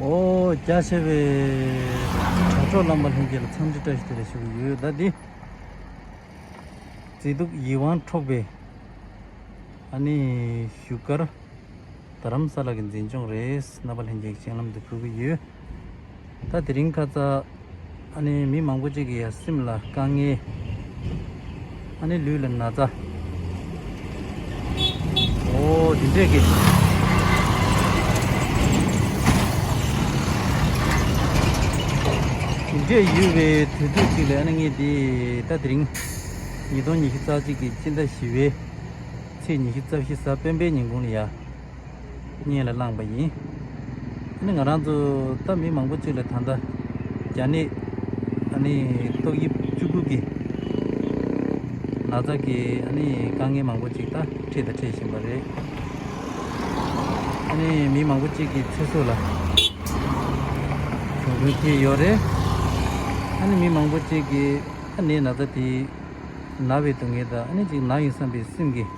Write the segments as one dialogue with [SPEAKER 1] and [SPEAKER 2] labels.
[SPEAKER 1] རྒྱ་ཆེ་བའི་དྲ་གྲོགས་རྣམ་པ་ལྷན་རྒྱས་ལ་འཚམས་འདྲི་བཀྲ་ཤིས་བདེ་ལེགས་ཞུ་གི་ཡོད་ཟླ་འདི་མཛེས་སྡུག་ཡིད་དབང་འཕྲོག་པའི་ཨ་ནི་བཞུགས་སྒར་རྡ་རམ་ས་ལ་གི་འཛིན་སྐྱོང་རེས་རྣམ་པ་ལྷན་རྒྱས་ཀྱི་སྤྱན་ལམ་དུ་ཕུལ་གྱི་ཡོད། ད་དེ་རིང་ཁ་ཚ། ཨ་ནི་མི་མང་པོ་གཅིག་གི་ཡང་སེམས་ལ་དཀའ་ངལ། ཨ་ནི་ལུས་ལ་ན་ཚ། འོ་འདི་འདྲས་ཀྱི། འདི་འདྲས་ཡོད་པའི་དུས་ཚོད་ཅིག་ལས་ཨ་ནི་ངས་འདི་ད་དེ་རིང། ཉིས་སྟོང་ཉི་ཤུ་རྩ་གཅིག་གི་སྤྱི་ཟླ་བཞི་བའི་ཚེས་ཉི་ཤུ་རྩ་བཞི་གཟའ་སྤེན་པའི་ཉིན་གུང་ལ་ཡ། བརྙན་ལ་བླངས་པ་ཡིན། ཨ་ནི་ང་རང་ཚོ་ལྟ་མི་མང་པོ་ཅིག་ལ་ད་ལྟ་རྒྱ་ནད་ཨ་ནི་ཏོག་དབྱིབས་བཅུ་དགུ་གིས་ན་ཚ་གི་ཨ་ནི་དཀའ་ངལ་མང་པོ་ཅིག་ད་འཕྲད་དང་འཕྲད་བཞིན་པ་རེད། ཨ་ནི་མི་མང་པོ་ཅིག་གི་ཚེ་སྲོག་ལ་གྱོང་གུན་ཐེབས་ཡོད་རེད། ཨ་ནི་མི་མང་པོ་ཅིག་གིས་ཨ་ནི་ན་ཚ་དེའི་ན་བའི་སྡུག་བསྔལ་དང་ཨ་ནི་ཅིག་ན་ཡིན་བསམ་པའི་སེམས་ཀྱི།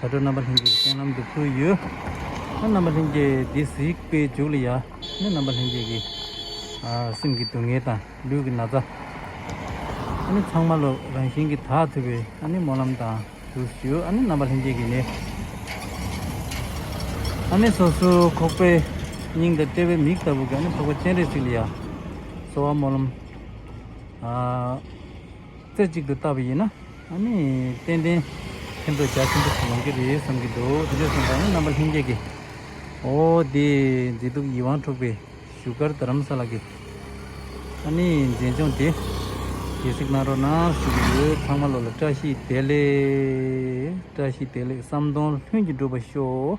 [SPEAKER 1] དྲ་གྲོགས་རྣམ་པ་ལྷན་རྒྱས་ཀྱི་སྟེང་ལམ་དུ་ཕུལ་ཡོད། ཨ་རྣམ་པ་ལྷན་རྒྱས་འདི་གཟིགས་པས་མཇུག་ལ་ཡ་ནི་རྣམ་པ་ལྷན་རྒྱས་ཀྱི་སེམས་ཀྱི་སྡུག་བསྔལ་དང་ལུས་ཀྱི་ན་ཚ། ཨ་ནི་ཚང་མ་བློ་རང་བཞིན་གྱིས་དག་ཐུབ་པའི་ཨ་ནི་སྨོན་ལམ་དང་དུ་ཞུ་ཨ་ནི་རྣམ་པ་ལྷན་རྒྱས་ཀྱི་ནི་ཨ་ནི་སོ་སོའི་ཁོག་པའི་སྙིང་དང་དཔྲལ་བའི་མིག་ལྟ་བུ་གྱི་ཨ་ནི་འཕགས་པ་སྤྱན་རས་གཟིགས་ལ་ཡ། གསོལ་བ་སྨོན་ལམ། རྩེ་གཅིག་ཏུ་བལྟ་བ་ཡིན་ན་ཨ་ནི་ཏན་ཏན་ཕན་ཐོགས་རྒྱ་ཆེན་པོ་ཞིག་ཡོང་གི་རེད་བསམ་གྱི་འདུག་དེ་འདྲས་སོང་ཙང་ནི་རྣམ་པ་ལྷན་སྐྱེས་ཀྱི་འོ་དེ་མཛེས་སྡུག་ཡིད་དབང་འཕྲོག་པའི་བཞུགས་སྒར་རྡ་རམ་ས་ལ་གི་ཨ་ནི་མཛེས་ལྗོངས་དེ་གལ་སྲིད་གནའ་རོགས་ནང་ཞུགས་ཀྱི་ཡོད་ཚང་མ་བློ་ལ་བཀྲ་ཤིས་བདེ་ལེགས་བཀྲ་ཤིས་བདེ་ལེགས་བསམ་གདོང་ལྷུན་གྱིས་འགྲུབ་པ་ཤོག།